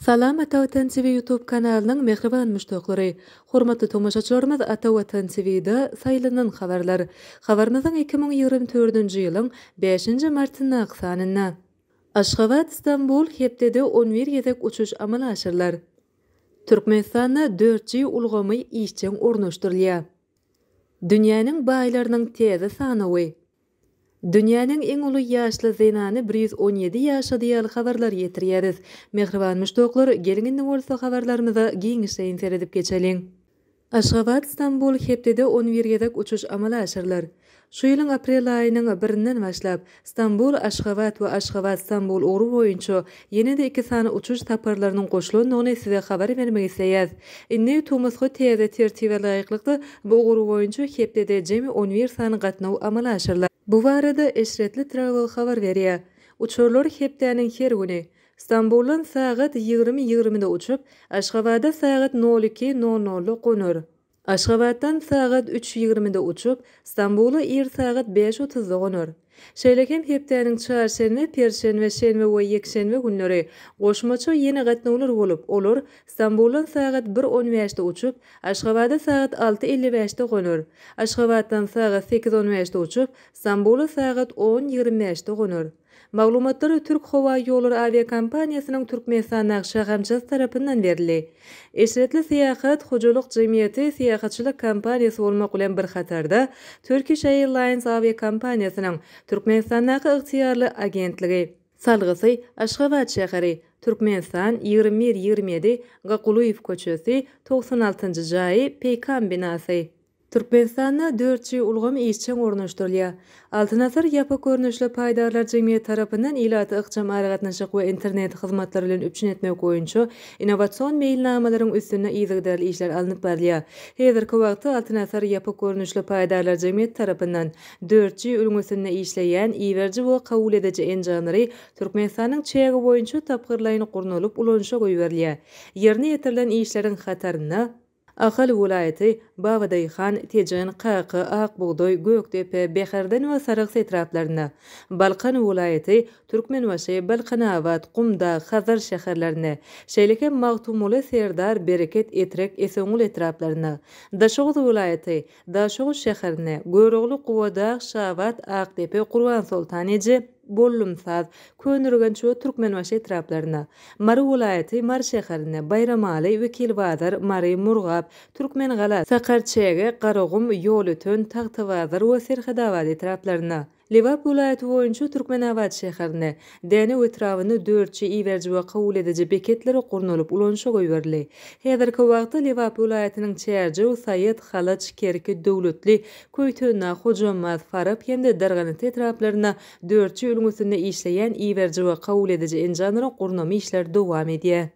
Salam Ata Watan TV YouTube kanalynyň mähriban muşdaklary! Hormatly tomaşaçylarymyz Ata Watan TVda Saýlanan habarlar habarymyzyň iki müň ýigrimi dördünji ýylyň bäşinji martyndaky sanynda Aşgabat, Stambul hepdede on bir gezek uçuş amala aşyrylar. Türkmenistanda dört G ulgamy işjeň ornaşdyrylýar. Dünýäniň baýlarynyň täze sanawy. Dünýäniň iň uly ýaşly zenany bir ýüz on ýedi ýaşady ýaly habarlar ýetirýäris. Mähriban muşdaklar, geliň indi bolsa habarlarymyza giňişleýin seredip geçeliň. Aşgabat-Stambul hepdede on bir gezek uçuş amala aşyrylar. Şu ýylyň aprel aýynyň birinden başlap, Stambul, Aşgabat we Aşgabat, Stambul ugry boýunça ýene-de iki sany uçuş saparlarynyň goşulandygyny size habar bermek isleýäs. Indi tomusky täze tertibe laýyklykda, bu ugur boýunça hepdede jemi on bir sany gatnaw amala aşyrylar. Bu barada Eşretli Travel habar berýär. Uçarlar hepdäniň her güni, Stambuldan sagat ýigrimi ýigrimide uçup, Aşgabada sagat nol iki nol nolda gonar. Aşgabatdan sagat üç ýigrimide uçup, Stambula ir sagat bäş otuzda gonar. Şeýle hem hepdäniň çarşenbe, perşenbe, şenbe we ýekşenbe günleri goşmaça ýene gatnawlar bolup, olar Stambuldan sagat bir on bäşde uçup, Aşgabada sagat alty elli bäşde gonar. Aşgabatdan sagat sekiz on bäşde uçup, Stambula sagat on ýigrimi bäşde gonar. Maglumatlar Türk howa ýollary awiakompaniýasynyň Türkmenistanda şahamçasy tarapyndan berildi. Eşretli Syýahat hojalyk jemgyýeti syýahatçylyk kompaniýasy bolmak bilen bir hatarda Turkish Airlines awiakompaniýasynyň Türkmenistandaky ygtyýarly agentligi, Salgysy, Aşgabat şäheri, Türkmenistan, ýigrimi bir, ýigrimi ýedi, Ga Kulyýew köçesi, togsan altynjy jaýy, Peýkam binasy. Türkmenistanda dört G ulgam işjeň ornaşdyrylýar. Altyn asyr ýapyk görnüşli paýdarlar jemgyýeti tarapyndan ilaty ykjam aragatnaşyk we internet hyzmatlary bilen üpjün etmek boýunça innowasion meýilnamalaryň üstünde yzygiderli işler alnyp barylýar. Häzirki wagtda Altyn asyr ýapyk görnüşli paýdarlar jemgyýeti tarapyndan dört G ülňüsinde işleýän iberiji we kabul ediji enjamlary Türkmenistanyň çägi boýunça tapgyrlaýyn gurnalyp ulanyşa goýberilýär. Ýerine ýetirilen işleriň hatarynda, Ahal welaýaty, Babadaýhan, Tejen, Kaka, Akbugdaý, Gökdepe, Bäherden we Sarahs etraplarynda, Balkan welaýaty, Türkmenbaşy, Balkanabat, Gumdag, Hazar şäherlerinde, şeýle hem Magtymguly, Serdar, Bereket, Etrek, Esenguly etraplarynda, Daşoguz welaýaty, Daşoguz şäherinde, Görogly, Gubadag, Şabat, Akdepe, Gurbansoltan eje, Gollumsaz, Köneürgenç we Türkmenbaşy etraplarynda, Mary welaýaty, Mary şäherinde, Baýramaly, Wekilbazar, Mary, Murgap, Türkmengala, Sakarçäge, Garagum, Ýolöten, Tagtabazar we Serhedabad etraplarynda, Lebap welaýaty boýunça Türkmenabat şäherinde, Dänew etrabynda dörtji iberiji we kabul ediji beketler gurnalyp ulanyşa goýberildi. Häzirki wagtda Lebap welaýatynyň Çärjew, Saýat, Halaç, Kerki, Döwletli, Köýtendag, Hojambaz, Farap hem-de Darganasy etraplarynda dörtji ülňüsinde işleýän iberiji we kabul ediji enjamlaryň gurnamak işleri dowam edýär.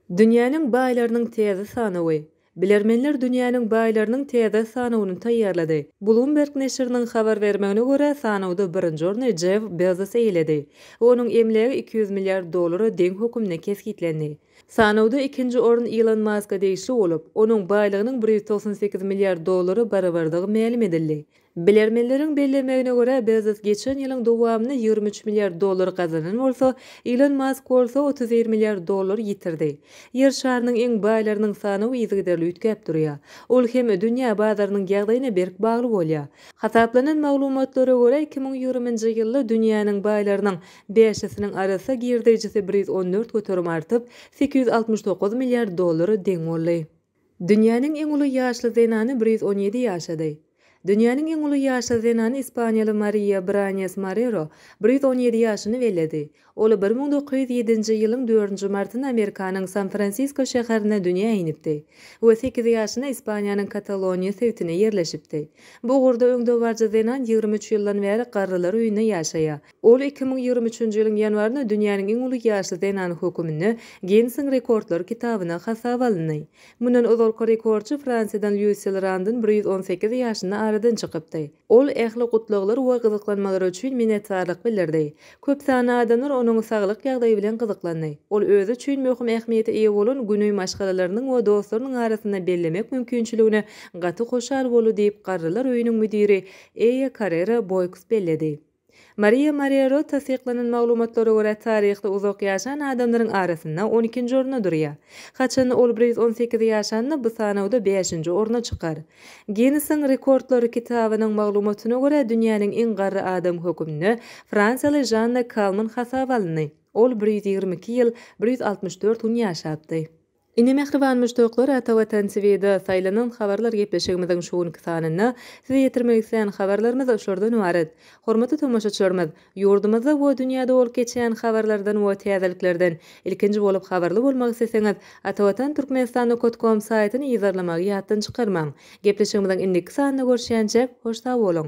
Dünýäniň baýlarynyň täze sanawy. Bilermenler dünýäniň baýlarynyň täze sanawyny taýýarlady. Bloomberg neşiriniň habar bermegine görä, sanawda birinji orny Jeff Bezos eýeledi. Onuň emlägi iki ýüz milliard dollara deň hökümde kesgitlendi. Sanawda ikinji orun Ilon Maska degişli bolup, onuň baýlygynyň bir ýüz togsan sekiz milliard dollara barabardygy mälim edildi. Bilermenleriň bellemegine görä, Bezos geçen ýylyň dowamynda ýigrimi üç milliard dollar gazanan bolsa, Ilon Mask bolsa otuz bir milliard dollar ýitirdi. Ýer şarynyň iň baýlarynyň sanawy yzygiderli üýtgäp durýar. Ol hem dünýä bazarynyň ýagdaýyna berk bagly bolýar. Hasaplanan maglumatlara görä, iki müň ýigriminji ýylda dünýäniň baýlarynyň Bäşisiniň arassa girdeýjisi bir ýüz on dört göterim artyp, sekiz ýüz altmyş dokuz milliard dollara deň boldy. Dünýäniň iň uly ýaşly zenany bir ýüz on ýedi ýaşady. Dünýäniň iň uly ýaşly zenany ispaniýaly Mariýa Branes Marero bir ýüz on ýedi ýaşyny belledi. Ol bir müň dokuz ýüz ýedinji ýylyň dördünji martynda Amerikanyň San-Fransisko şäherinde dünýä inipdi we sekiz ýaşynda Ispaniýanyň Kataloniýa sebitine ýerleşipdi. Bu ugurda öňdebaryjy zenan ýigrimi üç ýyldan bäri garrylar öýünde ýaşaýar. Ol iki müň ýigrimi üçünji ýylyň ýanwarynda dünýäniň iň uly ýaşly zenany höküminde Ginnesiň rekordlar kitabyna hasaba alyndy. Mundan ozalky rekordçy Fransiýadan Lýusil Randyn bir ýüz on sekiz ýaşynda aradan çykypdy. Ol ähli gutlaglar we gyzyklanmalar üçin minnetdarlyk bildirdi. Köp sanly adamlar onuň saglyk ýagdaýy bilen gyzyklandy. Ol özi üçin möhüm ähmiýete eýe bolan güni maşgalalarynyň we dostlarynyň arasynda bellemek mümkinçiligine gaty hoşal boldy diýip, Garrylar öýüniň müdiri Eýe Karrera Boýks belledi. Maria Marrero tassyklanan maglumatlara görä, taryhda uzak ýaşan adamlaryň arasynda on ikinji orunda durýar. Haçan ol bir ýüz on sekiz ýaşanda, bu sanawda bäşinji orna çykar. Ginnesiň rekordlary kitabynyň maglumatyna görä, dünýäniň iň garry adamy hökümnde fransiýaly Žanna Kalman hasaba alyndy. Ol bir ýüz ýigrimi iki ýyl, bir ýüz altmyş dört gün ýaşapdy. Ine mähriban muşdaklar Ata Watan TVda saýlanan habarlar gepleşigimiziň şu günki sanynda size ýetirmek islän habarlarymyz şordan ybarat. Hormatly tomaşaçylarymyz, ýurdumyzda we dünýäde bolup geçýän habarlardan we täzeliklerden ilkinji bolup habarly bolmak isleseňiz Atavatan Turkmenistannukotkom saýtyny yzarlamagy ýatdan çykarmaň. Gepleşigimiziň indiki sanynda görüşýänçäk hoş sag boluň.